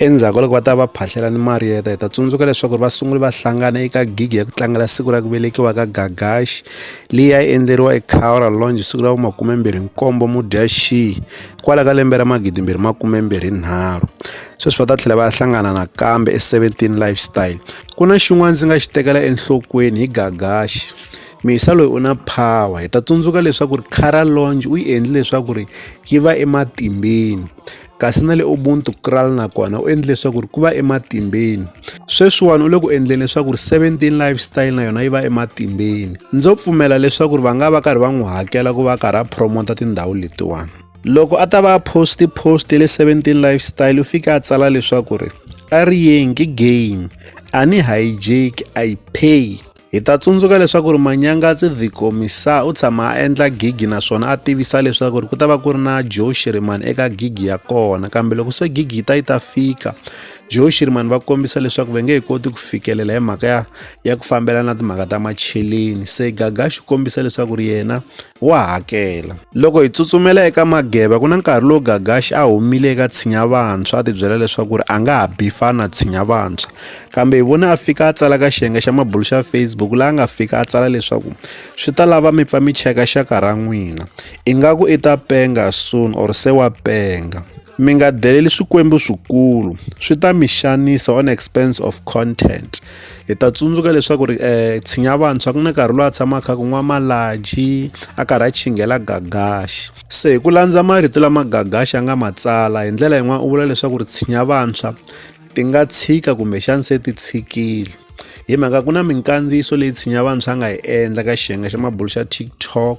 Endzhaku ka loko va ta va phahlela ni Marietta hi ta tsundzuka leswaku va sunguli va hlangana eka gigi ya ku tlangela siku ra ku velekiwa ka Gagashi leyi ya endleriwa eCowra Lounge siku ra vu-27 Mudyaxihi kwala ka lembe ra 2023. Sweswi va ta tlhela va ya hlangana nakambe e17 Lifestyle. Ku na xin'wana ndzi nga xi tekela enhlokweni hi Gagashi. Misa loyi u na power hi ta tsundzuka leswaku ri Cara Lounge u yi endli leswaku ri yi va ematimbeni. kasi na le Ubuntu Kral na kona u endle leswaku ku va ematimbeni. Sweswiwani u le ku endleni leswaku 17 Lifestyle na yona yi va ematimbeni. Ndzo pfumela leswaku va nga va karhi va n'wi hakela ku va karhi a promota tindhawu letiwani. Loko a ta va a post post le 17 Lifestyle u fike a tsala leswaku ri a ri yeng game a ni hijack I pay. Hi ta tsundzuka leswaku ri Manyangatsi The Commissar u tshama a endla gigi naswona a tivisa leswaku ri ku ta va ku ri na Joe Shirimani eka gigi ya kona kambe loko se gigi yi ta yi ta fika Joe Shirimani va kombisa leswaku va nge he koti ku fikelela hi mhaka ya ya ku fambela na timhaka ta macheleni se Gagaxi u kombisa leswaku ri yena wa hakela. Loko hi tsutsumela eka Mageba ku na nkarhi lowu Gagashi a humile eka Tshinya Vantshwa a tibyela leswaku ri a nga ha bifana na Tshinya Vantshwa. Kambe hi vone a fika a tsala ka xiyenge xa mabulu xa Facebook laha a nga fika a tsala leswaku swi ta lava mi pfa mi cheka xaka ra n'wina ingaku i ta penga soon or se wa penga. Mi nga deleli swikwembu swikulu swi ta mi xanisa on expense of content. hi ta tsundzuka leswaku ri um tshinya vantshwa ku na nkarhi lowu a tshamaka kha ku nwa malaji a karhi a chinghela gagaxi se hi ku landza marito lama gagaxi a nga ma tsala hi ndlela yin'wana u vula leswaku ri tshinya vantshwa ti nga tshika kumbexani se ti tshikile hi mhaka ku na minkandziyiso leyi tshinya vantshwa a nga yi endla ka xiyenge xa mabulu xa tiktok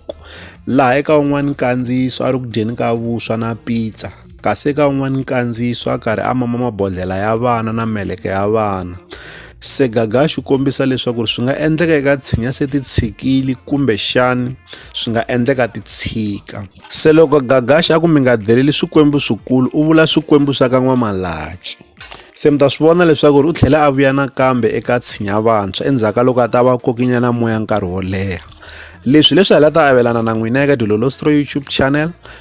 laha eka un'wana nkandziyiso a ri ku dyeni ka vuswa na pizza kasi eka un'wana nkandziyiso a karhi a mama mabodlhela ya vana na meleke ya vana se gaga xi kombisa leswaku swi nga endleka eka tshinya se ti tshikili kumbe xani swi nga endleka ti tshika se loko gagaxi a ku mi nga deleli swikwembu swikulu u vula swikwembu swa ka n'wamalaci se mi ta swi vona leswaku ri u tlhela a vuya nakambe eka tshinya vantshwa endzhaku ka loko a ta va kokinyana moya nkarhi wo leha leswi leswi hala ta avelana na n'wina eka dilolostro youtube channel